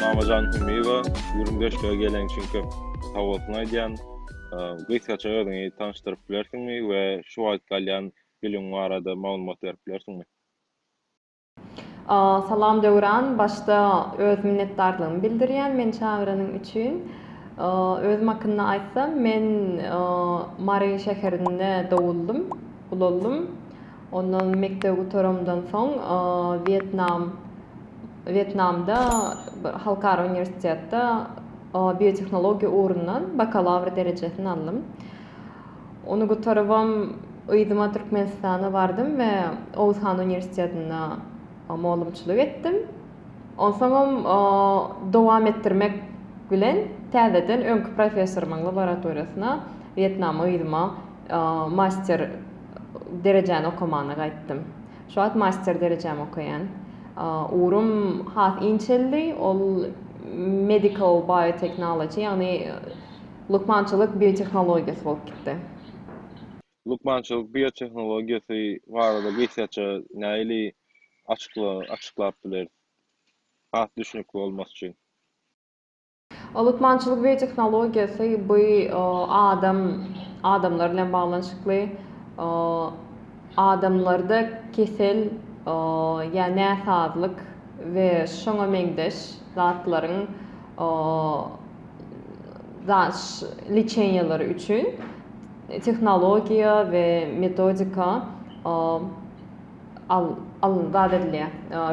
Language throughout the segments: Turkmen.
Mamajan Hümiýewa, Güründeşlige gelen üçin köp sag bolsun aýdýan. Gysgaça özüňi tanyşdyryp bilersiňmi we şu wagt galýan Biliň barada maglumat berip bilersiňmi. Salam Döwran, başda öz minnetdarlygymy bildirýän meni çagyranyň üçin. Özüm hakynda aýtsam, men Mary şäherinde doguldym, ulaldym. Ondan mekdebi gutaramdan soň Wýetnam Wýetnamda bir halkara uniwersitetde biotehnologiýa ugrundan bakalawr derejesini aldym. Ony gutarybam yzyma Türkmenistana bardym we Oguz han uniwersitetinde mugallymçylyk etdim. Onsoňam dowam etdirmek bilen täzeden öňki professorymyň laboratoriýasyna Wýetnama yzyma master derejäni okamana gaýtdym. Şu wagt master derejämi okaýan. Ugrum has inçeldi, ol medical biotechnology ýagny Lukmançylyk biotehnologiýasy bolup gitdi. Lukmançylyk biotehnologiýasy barada gysgaça näili açyklap bileris, has düşnükli bolmasy üçin? Lukmançylyk biotehnologiýasy bu adam adamlar bilen baglanyşykly adamlarda kesel ýa näsazlyk we şoňa meňzeş zatlaryň liçeniýalar üçin tehnologiýa we metodika zat edilýär,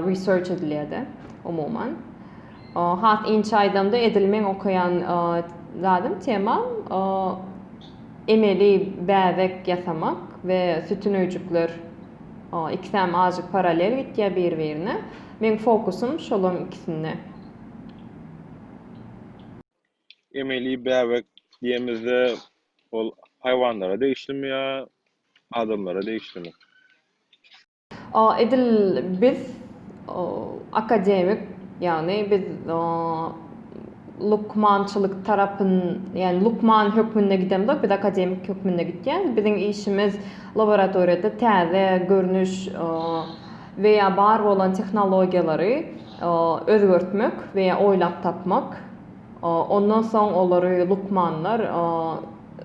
research edilýär-de umuman. Has inçe aýdamda edil meň okaýan zadym, temam emeli bäbek ýasamak we sütün öýjükler ikisem azajyk paralel gitýär bir-birine. Meň fokusym şolaryň ikisinde. Emeli bäbek diýemizde ol haýwanlara degişlimi ýa adamlara degişlimi? A edil biz akademik ýagny biz lukmançylyk tarapyn ýagny lukman hökmünde gidemzok biz akademik hökmünde gitýäs biziň işimiz laboratoriýada täze görnüş we ýa bar bolan tehnologiýalary özgertmek we ýa oýlap tapmak, ondan soň olary lukmanlar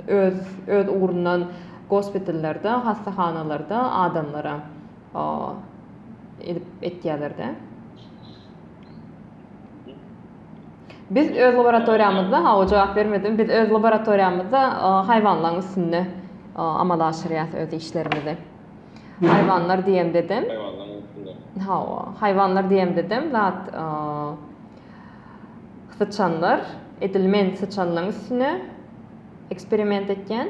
öz öz ugrundan gospitallerde, hassahanalarda adamlara edip etýärler-de. Biz öz laboratoriýamyzda, hawa jogap bermedim, biz öz laboratoriýamyzda haýwanlaryň üstünde amala aşyrýas öz işlerimizi. Haýwanlar diýemdedem. Haýwanlaryň üstünde. Hawa, haýwanlar diýemdedem zat syçanlar. Edil men syçanlaryň üstüne eksperiment etýän.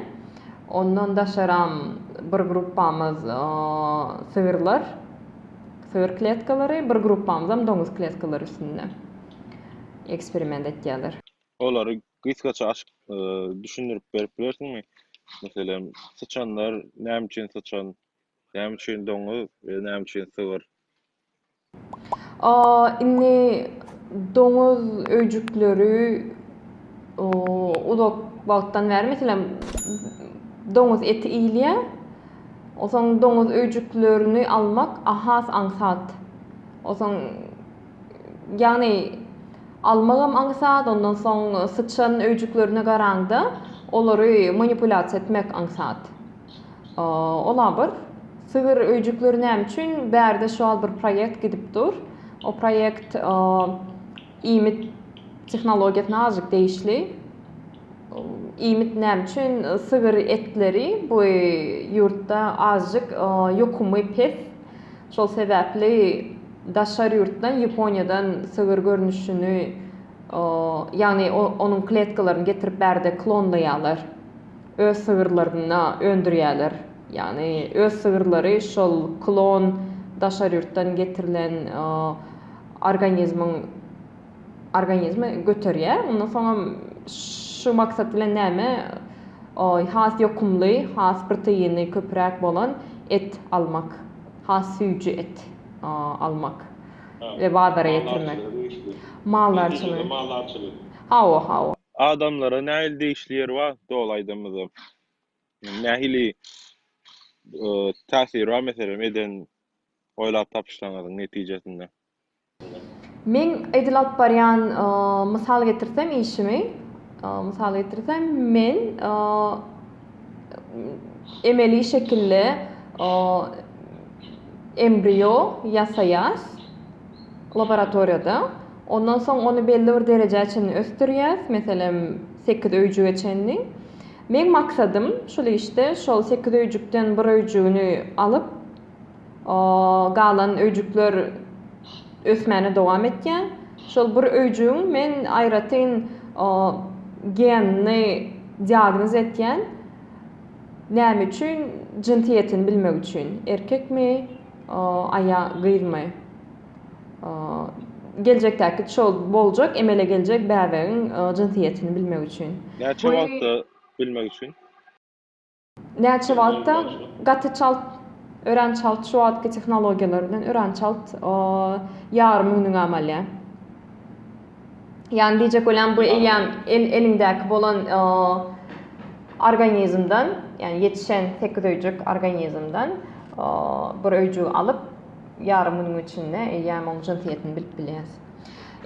Ondan daşaram bir gruppamyz sygyrlar, sygyr kletkalary, bir gruppamyzam doňuz kletkalary üstünde eksperiment etýärler. Olary Gysgaça açyp düşündirip berip bilersiňmi? Meselem, syçanlar näme üçin syçan? Näme üçin doňuz we näme üçin sygyr? A, indi doňuz öýjükleri uzak wagtdan bäri, meselem, doňuz eti iýilýär. Onsoň doňuz öýjüklerini almak has aňsat. Onsoň Ýagny almagam aňsat, ondan soň syçan öýjüklerine garaňda olary manipulýasiýa etmek aňsat. Ola bir sygyr öýjükleri näme üçin bärde şu wagt bir proýekt gidip dur. O proýekt iýmit tehnologiýasyna azajyk degişli. Iýmit näme üçin sygyr etleri bu ýurtda azajyk ýokumy pes. Şol sebäpli daşary ýurtdan, Ýaponiýadan sygyr görnüşini, ýagny onuň kletkalaryny getirip bärde klonlaýarlar. Öz sygyrlaryny öndürýärler. Ýagny öz sygyrlary şol klon daşary ýurtdan getirilen organizmiň organizmi göterýär. Ondan soňam şu maksat bilen näme has ýokumly, has proteini köpräk bolan et almak, has süýji et almak we bazara getirmek. Maldarçylygy. Maldarçylygy. Hawa, hawa. Adamlara nähili degişli ýeri bar doly aýdamyzda? Nähili täsiri bar meselem eden oýlap tapyşlaryňyzyň netijesinde? Men edil alyp barýan mysal getirsem işimi, mysal getirsem men emeli şekilde embriýo ýasaýas laboratoriýada. Ondan soň ony belli bir derejä çenli ösdürýäs, meselem sekiz öýjüge çenli. Meň maksadym şul işde şol sekiz öýjükden bir öýjügini alyp, galan öýjükler ösmäne dowam etýär. Şol bir öýjügiň men aýratyn genini diagnoz etýän. Näme üçin? Jynsýetini bilmek üçin. Erkekmi, aýa, gyzmy? Geljekdäki şol boljak, emele geljek bäbegiň jynsýetini bilmek üçin. Näçe wagtda bilmek üçin? Näçe wagtda gaty çalt örän çalt şu wagtky tehnologiýalar bilen örän çalt ýarym günüňi amalýar. Ýani diýjek bolýan bu eýýäm el eliňdäki bolan organizmden, ýani ýetişen sekiz öýjük organizmden bir öýjügi alyp ýarym günüň içinde eýýäm oň jynsyýetini bilip bilýäs.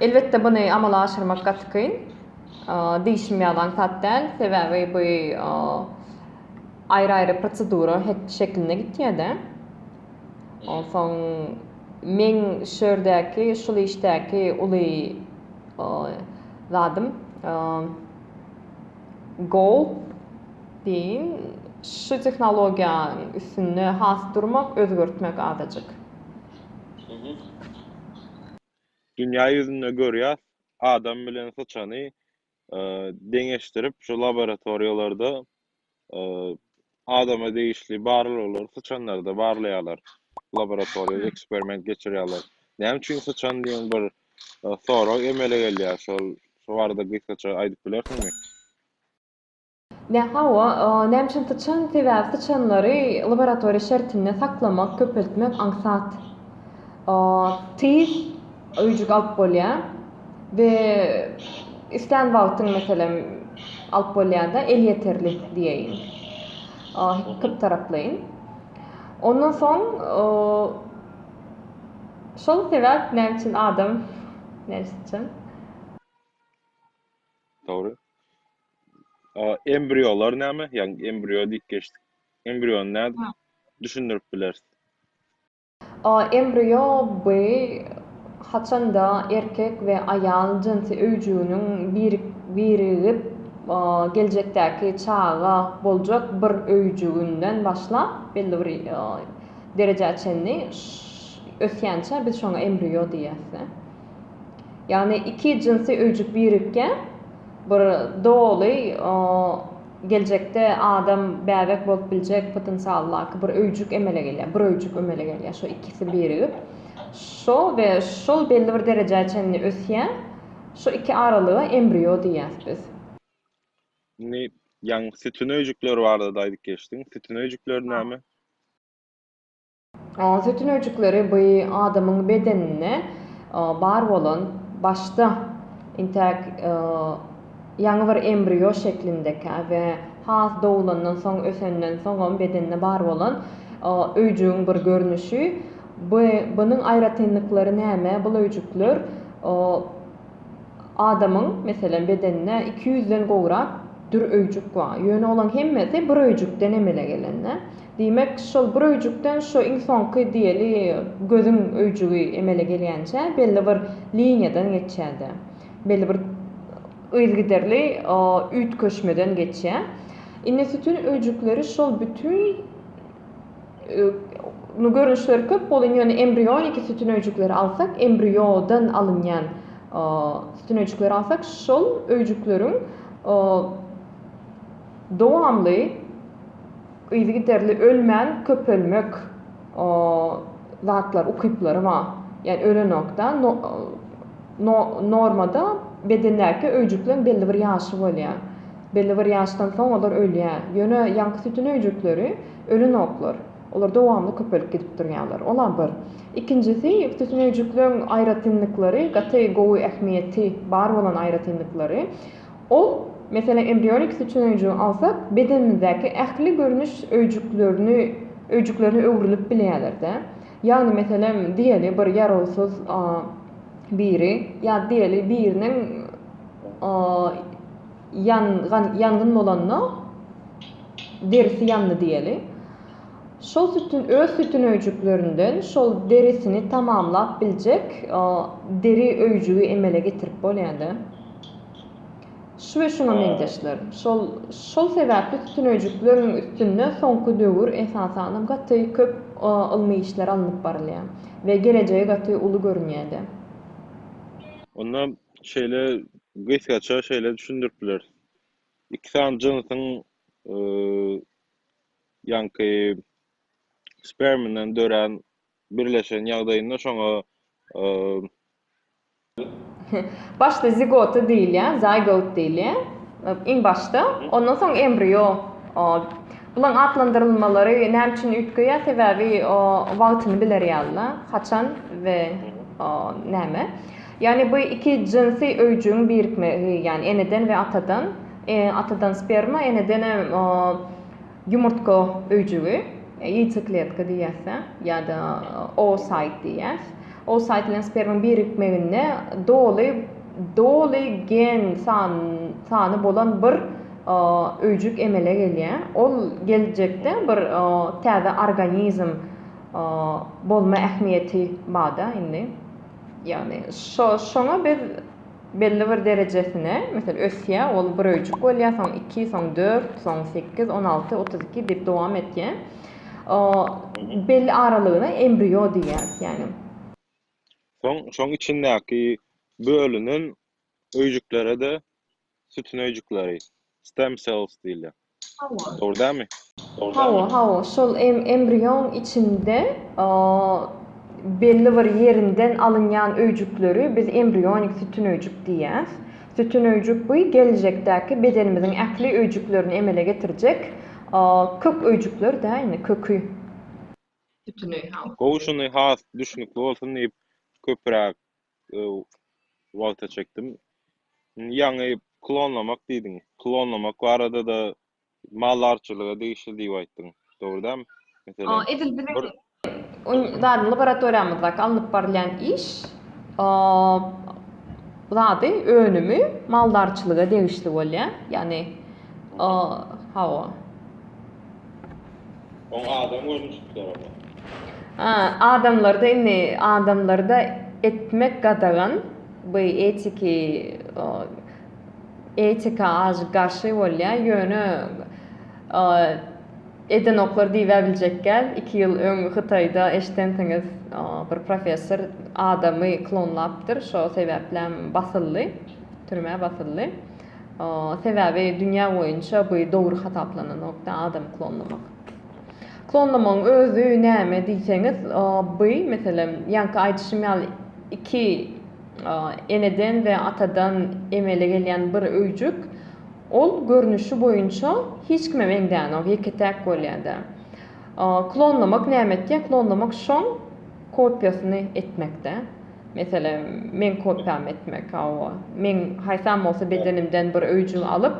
Elbetde buny amala aşyrmak gaty kyn. Dişim ýalan sat däl, sebäbi bu aýry-aýry prosedura şeklinde gitýär-de. Onsoň meň şu ýerdäki, şul işdäki uly zadym, goal diýiň, şu tehnologiýanyň üstünde has durmak, özgertmek azajyk. Dünýä ýüzünde görýäs, adam bilen syçany deňeşdirip, şu laboratoriýalarda adama degişli barlaglary syçanlarda barlaýarlar. Laboratoriýada hmm. eksperiment geçirýärler. Näme üçin syçan diýen bir e, sorag emele gelýär. Şol şu barada gysgaça aýdyp bilersiňmi? Nä hawa, näme üçin syçan? Sebäbi syçanlary laboratoriýa şertinde saklamak, köpeltmek aňsat. Tiz öýjük alyp bolýar we islän wagtyň, meselem, alyp bolýar-da, elýeterli diýeýin. Köptaraplaýyn. Ondan soň şol sebäp näme üçin adam, näme üçin syçan? Dogry. Embriolar näme? Ýagny embrio diýip geçdik. Embriony nädip düşündirip bileris? Embrio bu haçanda erkek we aýal jynsy öýjüginiň birigip geljekdäki çaga boljak bir öýjüginden başlap belli bir derejä çenli ösýänçä biz şoňa embrio diýýäs. Ýagny iki jynsy öýjük birikýär. Bir doly geljekde adam bäbek bolup biljek potensialdaky bir öýjük emele gelýär. Bir öýjük emele gelýär. Şo ikisi birigip şo we şol belli bir derejä çenli ösýär. Şo iki aralyga embrýo diýýäs biz. Indi ýaňky sütün öýjükleri barada-da aýdyp geçdiň. Sütün öýjükleri näme? Sütün öýjükleri bu adamyň bedeninde bar bolan başda intäk ýaňy bir embrýo şeklindeki we has doglandan soň ösenden soňam bedende bar bolan öýjügiň bir görnüşi. Bunuň aýratynlyklary näme? Bul öýjükler Adamyň, meselem, bedeninde iki ýüzden gowrak dür öýjük bar. Ýöne olaň hemmesi bir öýjükden emele gelende. Diýmek, şol bir öýjükden şu iň soňky diýeli gözüň öýjügi emele gelýänçä belli bir liniýadan geçýär-de, belli bir yzygiderli üýtgeşmeden geçýär. Indi sütün öýjükleri şol bütin Ýöne görnüşleri köp bolan, ýöne embrioniki sütün öýjükleri alsak, embriodan alynýan sütün öýjükleri alsak, şol öýjükleriň dowamly yzygiderli ölmän köpelmek zatlar, ukyplary bar. Ýani ölenokda normada bedendäki öýjükleň belli bir ýaşy bolýar. Belli bir ýaşdan soň olar ölýär. Ýöne ýaňky sütün öýjükleri ölenoklar. Olar dowamly köpelip gidip durýarlar. Ol-a bir. Ikinjisi, sütün öýjükleriň aýratynlyklary, gaty gowy ähmiýeti bar bolan aýratynlyklary. Ol, meselem, embrionik sütün öýjügini alsak, bedenimizdäki ähli görnüş öýjüklerini öýjüklerine öwrülip bilýärler-dä. Ýagny, meselem, diýeli bir ýarawsyz biri ýa diýeli biriniň Ýangan, ýangyn bolanda derisi ýandy diýeli. Şol sütün öz sütün öýjüklerinden şol derisini tamamlap biljek deri öýjügi emele getirip bolýardy. Şu we şuňa meňzeşler. Şol şol sebäpli sütün öýjükleriň üstünde soňky döwür esasanam gaty köp ylmy işler alnyp barylýar we gelejegi gaty uly görünýärdi. Onda Şeýle gysgaça şeýle düşündirip bileris. Iki sany jynsyň ýaňky sperminden dörän birleşen ýagdaýynda şoňa Başda zigota diýilýär, zygote diýilýär. Iň başda, ondan soň embrio. Bularyň atlandyrylmalary näme üçin üýtgeýär? Sebäbi wagtyny biler ýaly-da, haçan we näme. Ýagny bu iki jynsy öýjügiň birikme gi, ýagny eneden we atadan, e, atadan sperma, eneden hem o, ýumurtga öýjügi, ýeýtsekletka diýýäs-ä, ýa-da oosaýt diýýäs. Oosaýt bilen spermaň birikmeginde doly, doly gen san, sany bolan bir, o, öýjük emele gelýär. Ol geljekde bir, o, täze organizm, o, bolma ähmiýeti bar-da indi. Ýagny şoňa biz belli bir derejesine, meselem, ösýä, ol bir öýjük bolýa, soň iki, soň dört, soň sekiz, on alty, otuz iki diýip dowam etýä. Belli aralygyna embriýo diýýäris, ýagny. Soň şoň içindäki bölünen öýjüklere-de sütün öýjükleri, stem cells diýilýär. Hawa. Dogry dälmi? Hawa, hawa, şol embrioň içinde belli bir ýerinden alynýan öýjükleri biz embrionik sütün öýjük diýýäs. Sütün öýjük bu geljekdäki bedenimiziň ähli öýjüklerini emele getirjek kök öýjükler dä indi köki sütüni. Gowy şuny has düşnükli bolsun diýip köpüräk wagta çekdim. Indi ýaňy klonlamak diýdiň. Klonlamak barada-da maldarçylyga degişli diýip aýtdyň. Dogry dämi? Meselem, Edil biziň bir zady laboratoriýamyzdaky alnyp barylýan iş zady, önümi maldarçylyga degişli bolýar. Ýagny, hawa. Oň adam görnüşi tutar oňa. A, adamlarda indi adamlarda etmek gadagan, bu etiki o, etika az garşy bolýa, ýöne o, edenoklar diýibäbiljekgäl, iki ýyl öň Hytaýda eşidensiňiz, o, bir professor adamy klonlapdyr, şo sebäplämi basyldy, türmä basyldy. Sebäbi dünýä boýunça bu dogry hasaplananokda adamy klonlamak. Klonlamagyň özi näme diýseňiz, bu meselem ýaňky aýdyşym ýaly iki eneden we atadan emele gelýän bir öýjük ol görnüşi boýunça hiç kime meňzänok, ýeke-täk bolýada. Klonlamak näme etýä? Klonlamak şoň. Kopiýasyny etmekde, meselem, meň kopiýamy etmek, hawa, meň haýsam bolsa bedenimden bir öýjük alyp,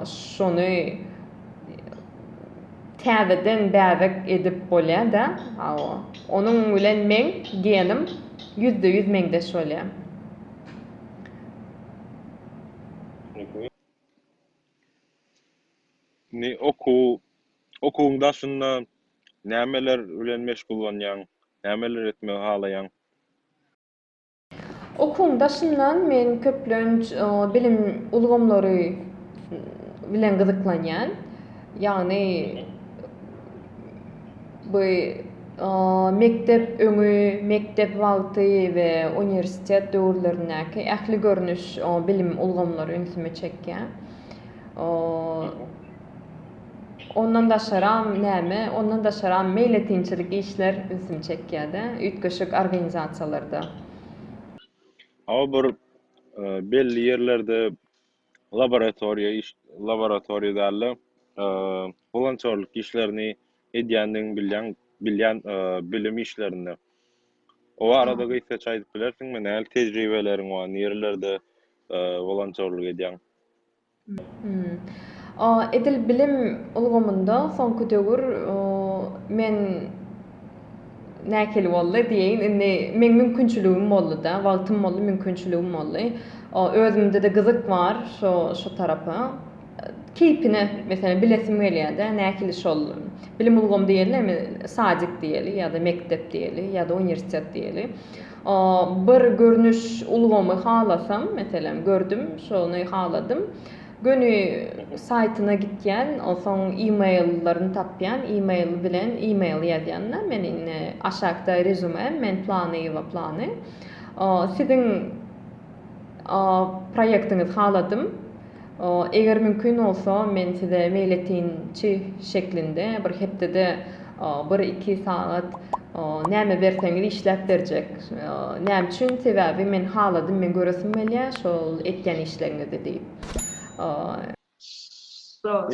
şony täzeden bäbek edip bolýar-da, hawa, onuň bilen meň genim ýüzde-ýüz meňzeş bolýar. Indi okuw, okuwyň daşynda nämeler bilen meşgullanýaň? Nämeler etmegi halaýaň? Okuwyň daşynda men köplenç bilim ulgamlary bilen gyzyklanýan. Ýagny Bu mekdep öňi, mekdep wagty we uniwersitet döwürlerindäki ähli görnüş bilim ulgamlary ünsümi çekýär. Ondan daşaram näme? Ondan daşaram meýletinçilik işler ünsümi çekýär-de, üýtgeşik organizasiýalarda. Hawa bir belli ýerlerde laboratoriýa iş laboratoriýada wolontýorlyk işlerini edýändigini bilýän bilýän bilim işlerinde o arada gysgaça aýdyp bilersiňmi nähili tejribeleriň bar nirelerde wolontýorlyk edýäň edil bilim ulgamynda soňky döwür men Nähili boldy diýeýin, indi meň mümkinçiligim boldy-da, wagtym boldy, mümkinçiligim boldy. O, özümde-de gyzyk bar şo, şo tarapa. Keýpine, meselem, bilesim gelýär-de, nähili şol bilim ulgamy diýelimi, sadik diýeli ýa-da mekdep diýeli ýa-da uniwersitet diýeli. O, bir görnüş ulgamy halasam, meselem, gördüm, şony haladym. Göni saýtyna gitýän, onsoň email-laryny tapýan, email bilen email ýazýan-da, men indi aşakda rezüme, men planyýewa plany, siziň proýektiňizi haladym, eger mümkin bolsa, men size meýletinçi şeklinde bir hepdede Bir-iki sagat näme berseňiz işläp berjek. Näme üçin? Sebäbi men haladym, men göresim gelýä şol etýän işleriňizi diýip.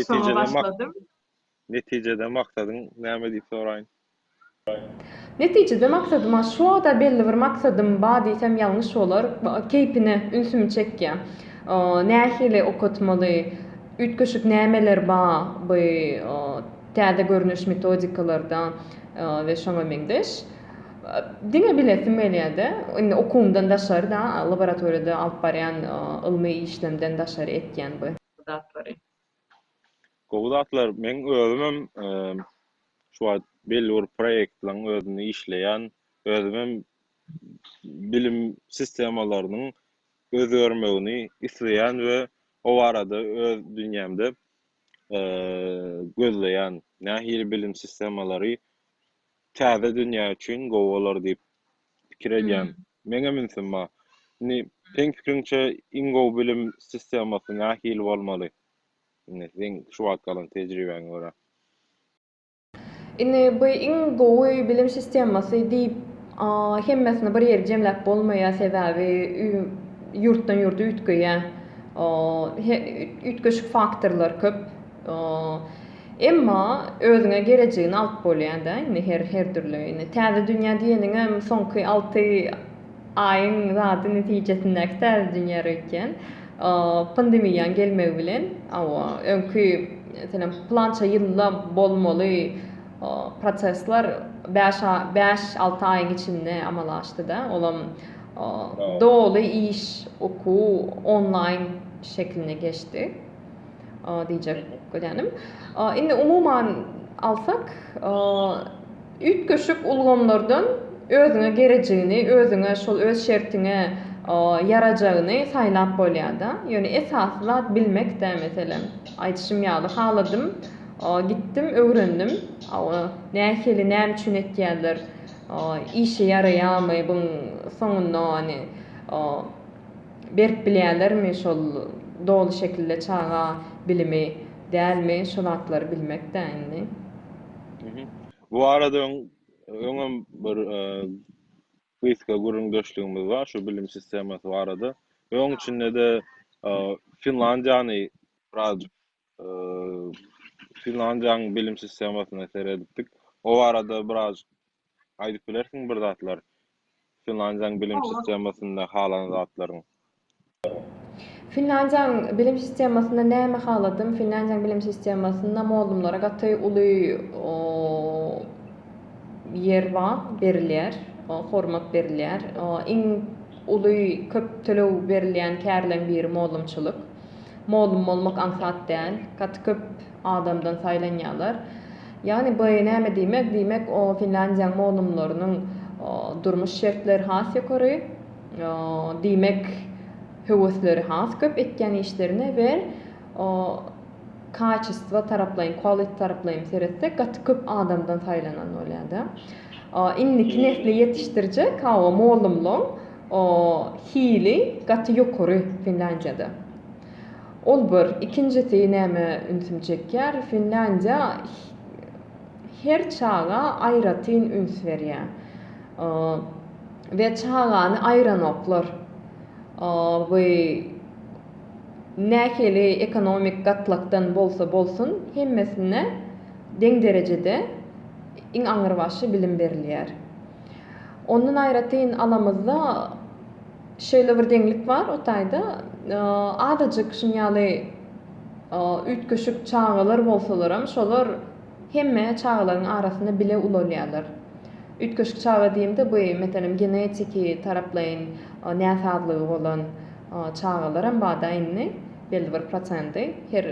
Soňa başladym. Netijede maksadyň näme diýip soraýyn? Netijede maksadyma şo-da belli bir maksadym bar diýsem ýalňyş bolar. Keýpine ünsümi çekýä. Nähili okatmaly, üýtgeşik nämeler bar bu Täze görnüş metodikalarda we şoňa meňzeş. Diňe bilesim gelýär-de, indi okuwymdan daşary-da, laboratoriýada alyp barýan ylmy işlemden daşary etýän bu zatlary. Gowy zatlar. Meň özümem şu wagt belli bir proýektleriň özünde işleýän. Özümem bilim sistemalarynyň özgermegini isleýän we o barada öz dünýämde gözleýän nähili bilim sistemalary täze dünýä üçin gowy bolar diýip pikir edýän. Meňem ünsüm bar. Indi seň pikiriňçe iň gowy bilim sistemasy nähili bolmaly? Indi seň şu wagt galan tejribäňe görä. Indi bu iň gowy bilim sistemasy diýip hemmesini bir ýere jemläp bolmaýar, sebäbi ýurtdan ýurda üýtgeýär. Üýtgeşik faktorlar köp. Emma özüňe gerejigini alyp bolýar-da indi her dürli. Indi täze dünýä diýeniňem soňky alty Aýyň zady netijesindäki täze dünýä röýtýän. Pandemiýaň gelmegi bilen öňki meselem plança ýylda bolmaly prosesler bäş bäş alty aýyň içinde amala aşdy-da, olam doly iş, okuw onlaýn şekline geçdi. diýjek bolýanym. Indi umuman alsak, üýtgeşik ulgamlardan özüňe gerejigini, özüňe şol öz şertiňe ýarajagyny saýlap bolýar-da. Ýöne esasy zat bilmek-dä, meselem, aýdyşym ýaly, haladym, gitdim, öwrendim. Nähili, näme üçin etýärler, işe ýaraýarmy, buň soňunda, ony, Berip bilýälermi şol doly şekilde çaga bilimi dälmi şu zatlary bilmekdä indi. Mhm. Bu barada öň öňem bir gysga gürrüňdeşligimiz bar şu bilim sistemasy barada. Öň içinde-de Finlandiýany birazjyk Finlandiýanyň bilim sistemasyna seredipdik. O barada biraz aýdyp bilersiň bir zatlar? Finlandiýanyň bilim sistemasynda halan zatlaryň. Finlandiýanyň bilim sistemasynda näme haladym? Finlandiýanyň bilim sistemasynda mollumlara gaty uly ýer bar, berilýär, hormat berilýär. Iň uly köp töleg berilýän kärleň biri mollumçylyk. Mollum bolmak aňsat däl. Gaty köp adamdan saýlanýarlar. Ýagny bu näme diýmek? Diýmek, o Finlandiýanyň mollumlarynyň durmuş şertleri has ýokary. Diýmek, höwesleri has köp etýän işlerine we kaçestwo taraplaýyn, quality taraplaýyn seretsek, gaty köp adamdan saýlanan bolýar-da. Indiki nesli ýetişdirjek, hawa, mollumlaň. O hili gaty ýokary Finlandiýada. Ol bir, ikinjisi nämä ünsüm çekýär, Finlandiýa her çaga aýratyn üns berýä we çagany aýranoklar. We nähili ekonomik gatlakdan bolsa bolsun hemmesine deň derejede iň aňyrbaşy bilim berilýär. Ondan aýratyn alamyzda şeýle bir deňlik bar o taýda azajyk şuň ýaly üýtgeşik çagalar bolsalaram şolar hemme çagalaryň arasynda bile ulalýarlar. Üýtgeşik çaga diýemde bu meselem genetiki taraplaýyn näsazlygy bolan çagalaram bada indi belli bir prosendi her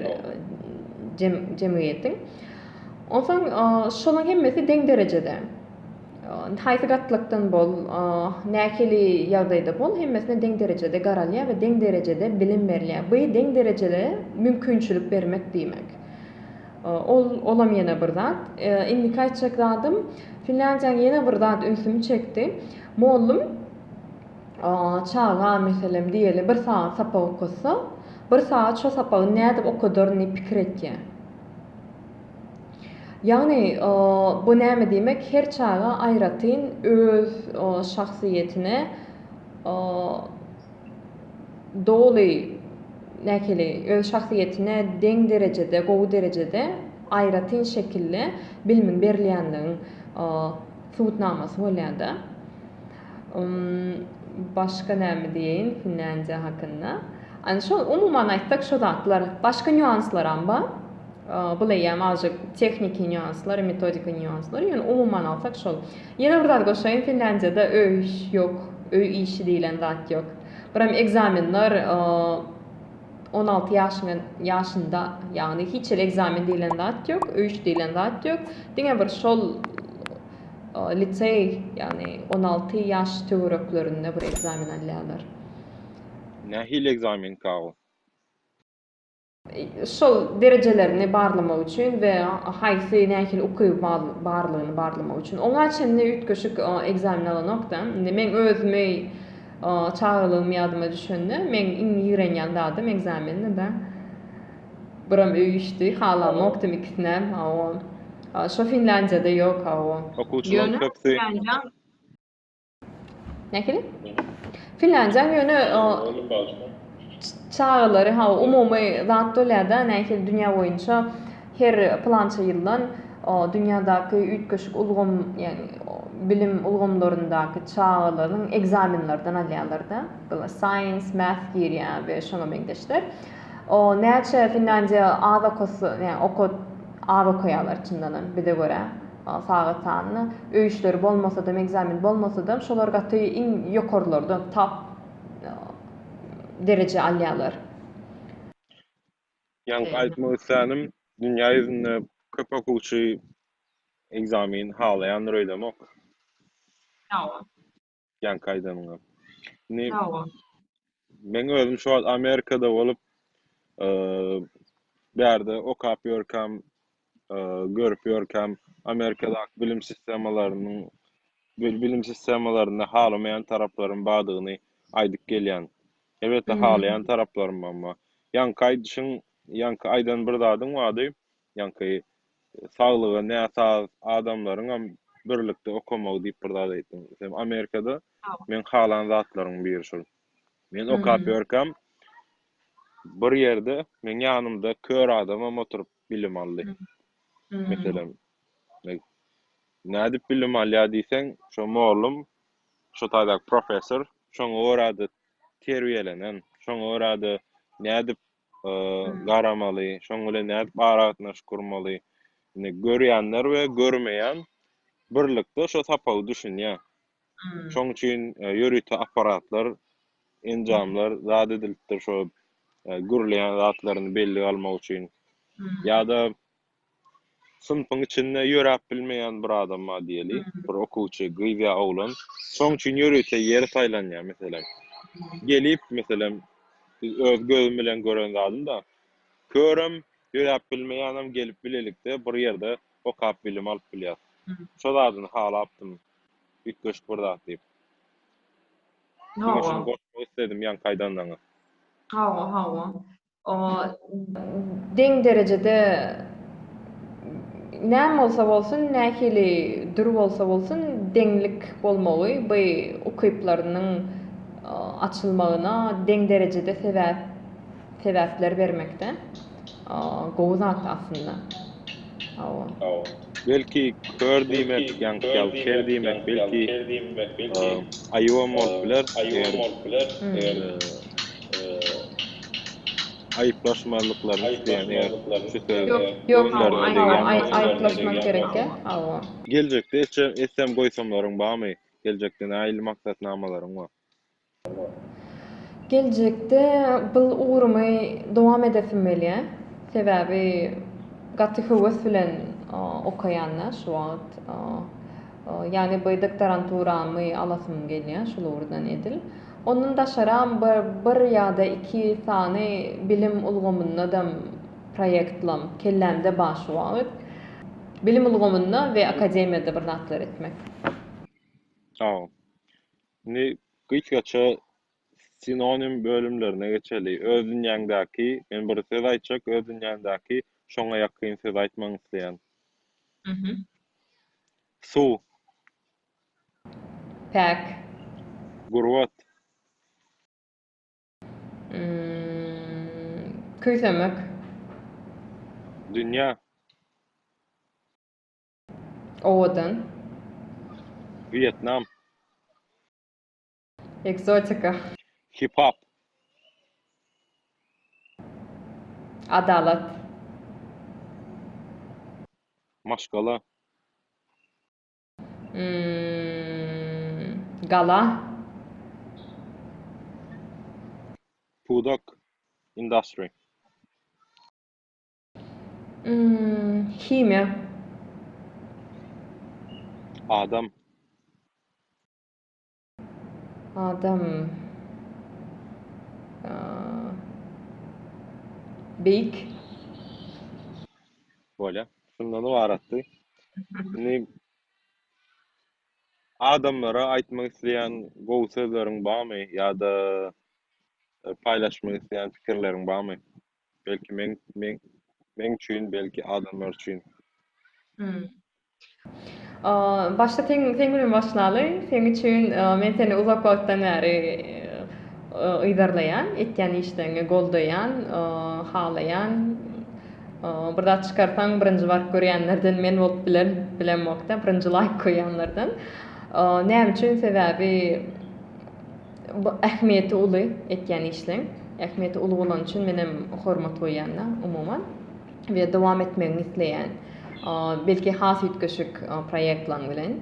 jemgyýetiň. Onsoň şolaň hemmesi deň derejede. Indi haýsy gatlakdan bol, nähili ýagdaýda bol, hemmesine deň derejede garalýar we deň derejede bilim berilýär. Bu deň derejede mümkinçilik bermek diýmek. Ol olam ýene bir zat. Indiki aýtjak zadym, Finlandiýanyň ýene bir zat ünsümi çekdi. Mollum çaga meselem diýeli bir sagat sapak okatsa, bir sagat şo sapagy nädip okadaryny pikir etýär. Ýagny, bu näme diýmek, her çaga aýratyn öz şahsyýetine doly, nähili, öz şahsyýetine deň derejede, gowy derejede, aýratyn şekilde bilimiň berilýänligiň subutnamasy bolýar-da. Başga näme diýeýin Finlandiýa hakynda? Ana şo umuman aýtsak şo zatlar. Başga nýuanslaram bar. Bul eýýäm azajyk tehniki nýuanslar, metodika nýuanslar. Ýöne umuman alsak şol. Ýene bir zat goşaýyn Finlandiýada öý ýok, öý işi diýlen zat ýok. Biram ekzamenler on alty ýaşyňa ýaşynda ýagny hiç hili ekzamen diýlen zat ýok, öý işi diýlen zat ýok. Diňe bir şol liseý, ýagny on alty ýaş töwereklerinde bir ekzamen alýarlar. Nähili ekzamenka ol? Şol derejelerini barlamak üçin we haýsy nähili ukyby barlygyny barlamak üçin. Oňa çenli üýtgeşik ekzamen alanok-da. Indi meň özümi çagalygym ýadyma düşende, meň iň ýigrenýän zadym ekzamendi-de. Buram öý işdi halamokdym ikisinem hawa şo finlandiýada ýok hawa. Okuwçylaň köpsi. Nähili? Finlandiýaň ýöne çagalary hawa umumy zat bolýada nähili dünýä boýunça her pylança ýyldan dünýädäki üýtgeşik ulgam ýagny bilim ulgamlaryndaky çagalaryň ekzamenlerden alýarlarda science math girýär we şoňa meňzeşler O näçe Finlandiýa az okasy ýa okad az okaýalar çyndanam bize görä sagat sanyny öýüşleri bolmasadam ekzamen bolmasadam şolar gaty iň ýokarlardan top dereje alýalar. Ýaňky aýtmak islänim dünýä ýüzünde köp okuwçy ekzamen halaýandyr öýdemok. Ýa. ýaňky aýdanyňa. Indi Sag bol. Men özüm şu wagt Amerikada bolup, eee, bu ýerde okap ýörkäm, eee, görüp ýörkäm, Amerikadaky bilim sistemalarynyň bil- bilim sistemalarynda halamaýan taraplaryň bardygyny aýdyp gelýän. Elbetde, Mhm. halaýan taraplarym bam bar. Ýaňky aýdyşyň, ýaňky aýdan bir zadyň bardy, Ýaňky saglygy näsaz adamlaryňam birlikde okamagy diýip bir zat aýtdyň. Sen Amerikada meň halan zatlaryň biri şol. Men okap ýörkäm bir ýerde meň ýanymda kör adamam oturyp bilim aldy. Meselem, nädip bilim alýar diýseň, şo mollum, şo taýdaky professor şoňa görä-de terbiýelenen, şoňa görä-de nädip garamaly, şoň bilen nädip aragatnaşyk gurmaly. Indi görýänler we görmeýän birlikde şo sapagy düşünýär. Şoň üçin ýörite apparatlar, enjamlar zat edilipdir şo gürleýän zatlaryny bellige almak üçin. Ýa-da Synpyň içinde ýöräp bilmeýän bir adam bar diýeli, bir okuwçy, gyz ýa oglan. Şoň üçin ýörite ýeri saýlanýar, meselem. Gelip, meselem, biz öz gözüm bilen gören zadym-da. Körem, ýöräp bilmeýänem gelip bilelikde bir ýerde okap bilim alyp bilýär. Şo zadyny halapdym, üýtgeşik bir zat diýip. Hawa. Goşmak isledim ýaňky aýdanyňa. Hawa, hawa. deň derejede näme bolsa bolsun, nähili dür bolsa bolsun deňlik bolmagy by ukyplarynyň açylmagyna deň derejede sebäp sebäpler bermekde gowy zat aslynda. Belki kör diýmek ýa-ýa ker diýmek belki aýybam bolup biler eger Aýyplaşmazlyklaryny isleýän eger şu sözi gözlerine degýän bolsa. Geljekde etsem goýsamlaryň barmy? Geljekde nähili maksatnamalaryň bar? Geljekde bul ugrumy dowam edesim gelýä. Sebäbi gaty höwes bilen okaýan-da şu wagt. Ýagny bu doktoranturamy alasym gelýä şul ugurdan edil. Ondan daşaram bir ýa-da iki sany bilim ulgamyndadam proýektlam kellämde bar şu wagt. Bilim ulgamynda we akademiýada bir zatlar etmek. Saol. Indi gysgaça sinonim bölümlerine geçeli. Öz dünýäňdäki, men bir söz aýtjak, öz dünýäňdäki şoňa ýakyn sözi aýtmagyňy isleýän. Suw. Päk. Gurbat. Küýsemek. Dünýä. Owadan. Wýetnam. Ekzotika. Hip-hop. Adalat. Maşgala. Gala. Pudak. Industry. Himiýa. Adam. Adam beýik. Bolýar. Şundan ybaratdy. Indi adamlara aýtmak isleýän gowy sözleriň barmy ýa-da paýlaşmak isleýän pikirleriň barmy? Belki men men men üçin belki adamlar üçin. Hmm. O başda sen sen bilen başlaly. Sen üçin men seni uzak wagtdan bäri yzarlaýan, etýän işlerini goldaýan, halaýan. Bir zat çykarsaň birinji baryp görýänlerden men bolup bilen bilemokda, birinji laýk goýýanlardan. Näme üçin? Sebäbi Bu ähmiýeti uly etýän işleň. Ähmiýeti uly bolany üçin menem hormat goýýan-da, umuman. We dowam etmegini isleýän. Belki has üýtgeşik proýektlaň bilen.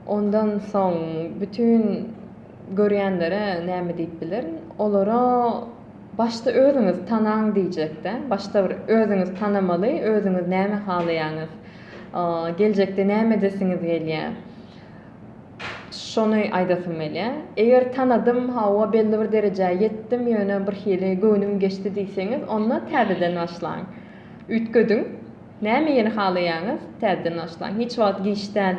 Ondan soň bütin görýänlere näme diýip bilerin? Olara başda özüňizi tanaň diýjek-de. Başda bir özüňizi tanamaly, özüňiz näme halaýaňyz? Geljekde näme edesiňiz gelýär? Şony aýdasym gelýä. Eger tanadym, hawa, belli bir derejä ýetdim, ýöne birhili göwnüm geçdi diýseňiz, onda täzeden başlaň. Üýtgediň. Näme ýene halaýaňyz, täzeden başlaň. Hiç wagt giç däl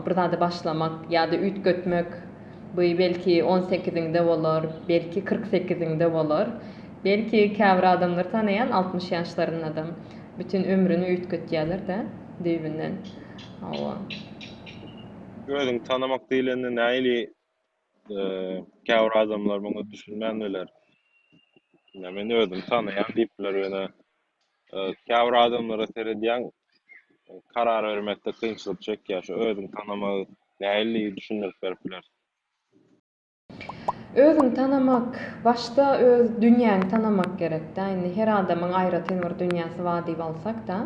bir zada başlamak ýa-da üýtgetmek. Bu belki on sekiziňde bolar, belki kyrk sekiziňde bolar. Belki käbir adamlary tanaýan altmyş ýaşlarynda-da bütin ömrüni üýtgetýärler-de düýbünden. Hawa. Özüňi tanamak diýlende nähili käbir adamlar muňa düşünmän biler. Ýa men özümi tanaýan diýip biler ýöne käbir adamlara seredýäň karar bermekde kynçylyk çekýär. Şu özüňi tanamagy nähili düşündirip berip bilersiň? Özüňi tanamak, başda öz dünýäňi tanamak gerek-dä. Indi her adamyň aýratyn bir dünýäsi bar diýip alsak-da,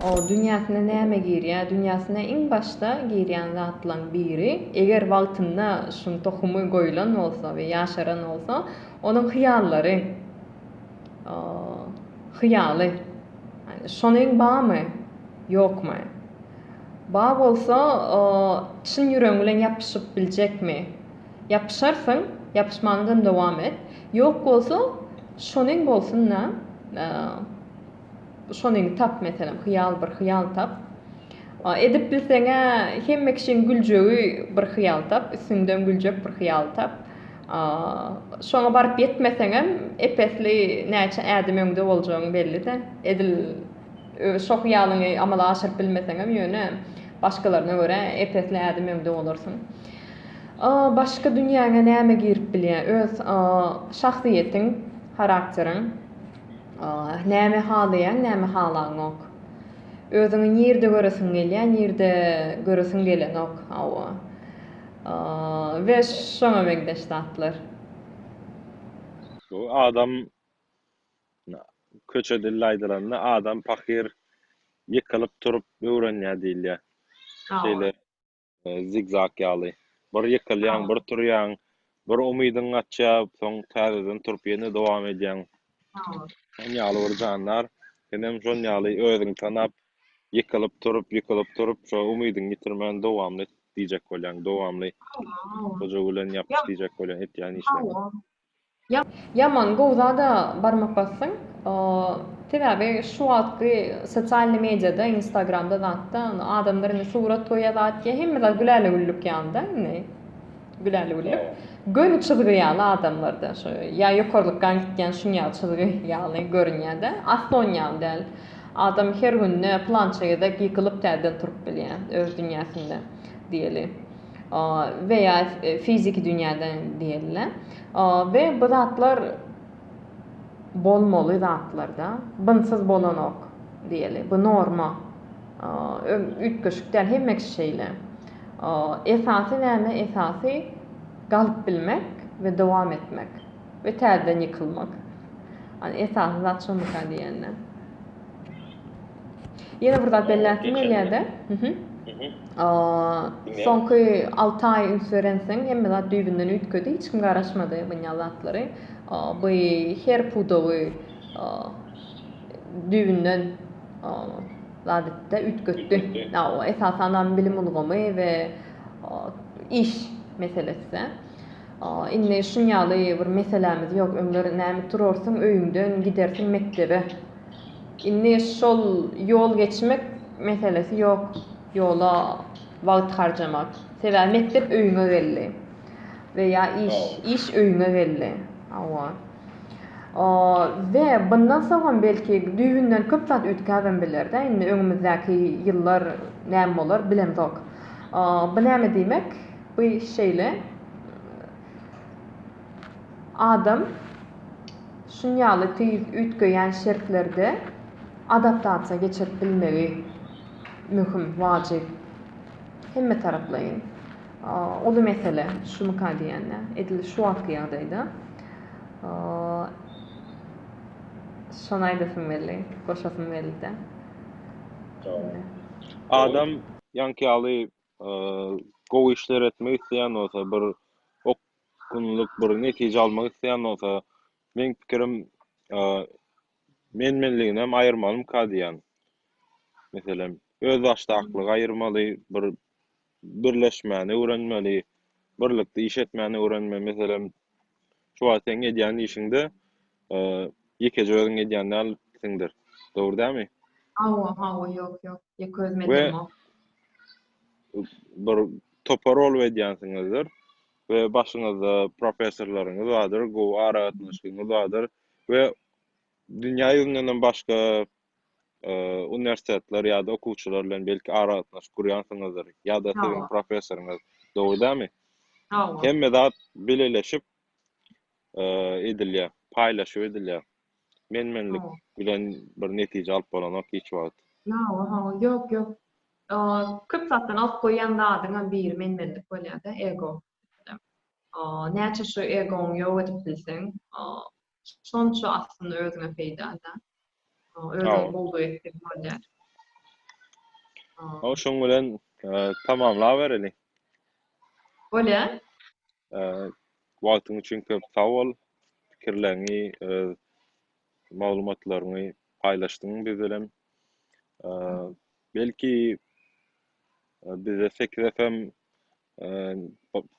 o dünýäsine näme girýär? Dünýäsine iň başda girýän zatlaryň biri, eger wagtynda şuň tohumy goýlan bolsa we ýaşaran bolsa, onuň hyýallary, hyýaly. Şonuň barmy, ýokmy? Bar bolsa, çyn ýüregiň bilen ýapyşyp biljekmi? Ýapyşarsyň, ýapyşmanydam dowam et. Ýok bolsa, şonuň bolsun-da, şonyny tap, meselem, hyýal, bir hyýal tap. Edip bilseň-ä, hemme kişiň güljegi bir hyýal tap, üstüňden güljek bir hyýal tap. Şoňa baryp ýetmeseňem, ep-esli näçe ädim öňde boljagyň belli-dä. Edil. Şo hyýalyňy amala aşyryp bilmeseňem, ýöne başgalaryna görä ep-esli ädim öňde bolarsyň. Başky dünýäňe näme girip bilýär? Öz şahsyýetiň, harakteriň. Näme halaýaň, näme halaňok. Özüňi nirde göresiň gelýär, nirde göresiň gelenok. Hawa. We şoňa meňzeş zatlar. Adam Köçe dilli aýdylanda, adam pahyr ýykylyp turup öwrenýär diýilýär. Şeýle zigzag ýaly. Bir ýykylýaň, bir turýaň, bir umydyň gaçýar, soň täzeden turup ýene dowam edýäň. Şoň ýaly bir jandar. Senem şol ýaly özüňi tanap, ýykylyp turup, ýykylyp turup, şo umydyňy ýitirmän dowam et diýjek bolýaň. Dowamly goja bilen ýapyş diýjek bolýaň etýän işleriňe. Ýaman gowy zada barmak basdyň. Sebäbi şu wagtky sosialny mediada, instagramda zatda adamlar indi surat goýýa zat diýýä hemme zat güläle güllük ýalyda indi. Güläle güllük. Göni çyzgy ýaly adamlarda şu ýa ýokarlykgan gitýän şuň ýaly çyzgy ýaly görünýädä. Asly on ýaly däl. Adam her günde plança gezek ýykylyp täzeden turup bilýä öz dünýäsinde diýeli. we ýa fiziki dünýäde diýeli we bu zatlar bolmaly zatlarda bunsyz bolanok diýeli bu norma üýtgeşik däl hemme kişi şeýle esasy näme esasy galyp bilmek we dowam etmek we täzeden ýykylmak esasy zat şomyka diýende. Ýene bir zat belläsim gelýärdi. Mhm. Mhm. Soňky 6 aý üns berensiň, hemme zat düýbünden üýtgedi, hiç kim garaşmady bu ýaly zatlary. Bu her pudagy düýbünden zat etdi, üýtgetdi. Esasan hem bilim ulgamy we iş meselesi. Indi şuň ýaly bir meselämiz ýok. Öňler näme turarsyň öýüňden, gidersiň mekdebe. Indi şol ýol geçmek meselesi ýok. Ýola wagt harjamak. Sebäbi mekdep öýüňe geldi. We ýa iş, iş öýüňe geldi. Hawa. O, we bundan soňam belki düýbünden köp zat üýtgäbem biler-dä. Indi öňümizdäki ýyllar näme bolar, bilemzok. Bu näme diýmek? Bu şeýle. Adam şunýaly tüýs üýtgeýän şertlerde adaptasiýa geçirip bilmegi möhüm, wajyp, hemmetaraplaýyn. Uly mesele, şumyka diýende, edil şu wagtky ýagdaýda. Şony aýdasym geldi, goşasym geldi-de. Adam ýaňky ýaly gowy işler etmek isleýän bolsa, bir okgunlyk, bir netije almak isleýän bolsa, meň pikirim, men-menliginem aýyrmalymyka diýýän. Meselem, özbaşdaklygy aýyrmaly, bir birleşmäni öwrenmeli, birlikde iş etmäni öwrenmeli. Meselem, Şu wagt seň edýän işiňde ýekeje özüň edýän dälsiňdir. Dogry dälmi? Hawa, hawa, ýok, ýok. Ýeke özüm edemok. Bir topar bolup edýänsiňizdir we başyňyzda professorlaryňyz bardyr, gowy aragatnaşygyňyz bardyr we dünýä ýüzündenem başga uniwersitetler ýa-da okuwçylar bilen belki aragatnaşyk gurýansyňyzdyr ýa-da siziň professoryňyz, dogry dälmi? Dogry. Hemme zat bileleşip edilýär, paýlaşyp edilýär. Men-menlik bilen bir netije alyp bolanok hiç wagt. Ýok, ýok, ýok. Köp zatdan alyp goýýan zadyňam biri men-menlik bolýar-da, ego. Näçe şu egoňy ýok edip bilseň, şonça aslynda özüňe peýda-da. Özüňi bowlup etseň bolýar. Hawa, şoň bilen tamamlabereli. Bolýar. Wagtyň üçin köp sag bol. Pikirleriňi, maglumatlaryňy paýlaşdyň biz bilen. Belki bize sekiz FM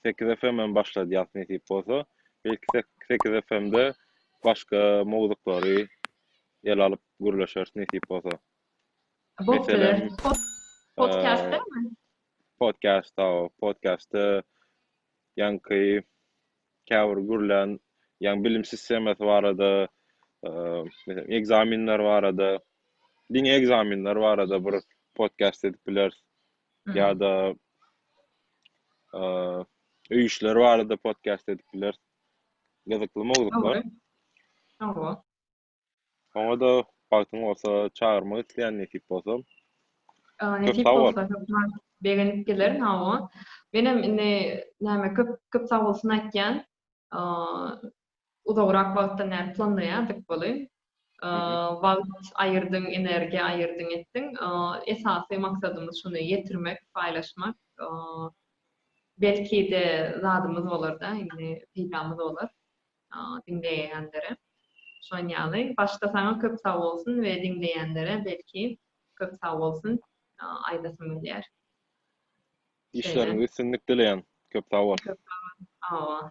sekiz FM hem başladýas nesip bolsa. Belki sekiz FM-de başga mowzuklary ele alyp gürleşeris nesip bolsa. Meselem, Podkastdamy? Podkast, hawa, podkastda ýaňky käbir gürlän ýaňy bilim sistemasy barada meselem ekzamenler barada diňe ekzamenler barada bir podcast edip bileris ýa-da öý işleri barada podcast edip bileris gyzykly mowzuklar Oňa-da bagtyň bolsa çagyrmak isleýän nesip bolsa. Nesip bolsa hökman begenip gelerin hawa. Menem indi näme köp köp sag bolsun aýtýan. Uzagrak wagtdan bäri planlaýardyk buly. Wagt aýyrdyň, energiýa aýyrdyň etdiň. Esasy maksadymyz şuny ýetirmek, paýlaşmak. Belki-de zadymyz bolar-da indi peýdamyz bolar. diňleýänlere şon ýaly başda saňa köp sag bolsun we diňleýänlere belki köp sag bolsun aýdasym gelýär. Işleriňizde üstünlik dileýän. Köp sag bol. Köp sag bol. Sag bol.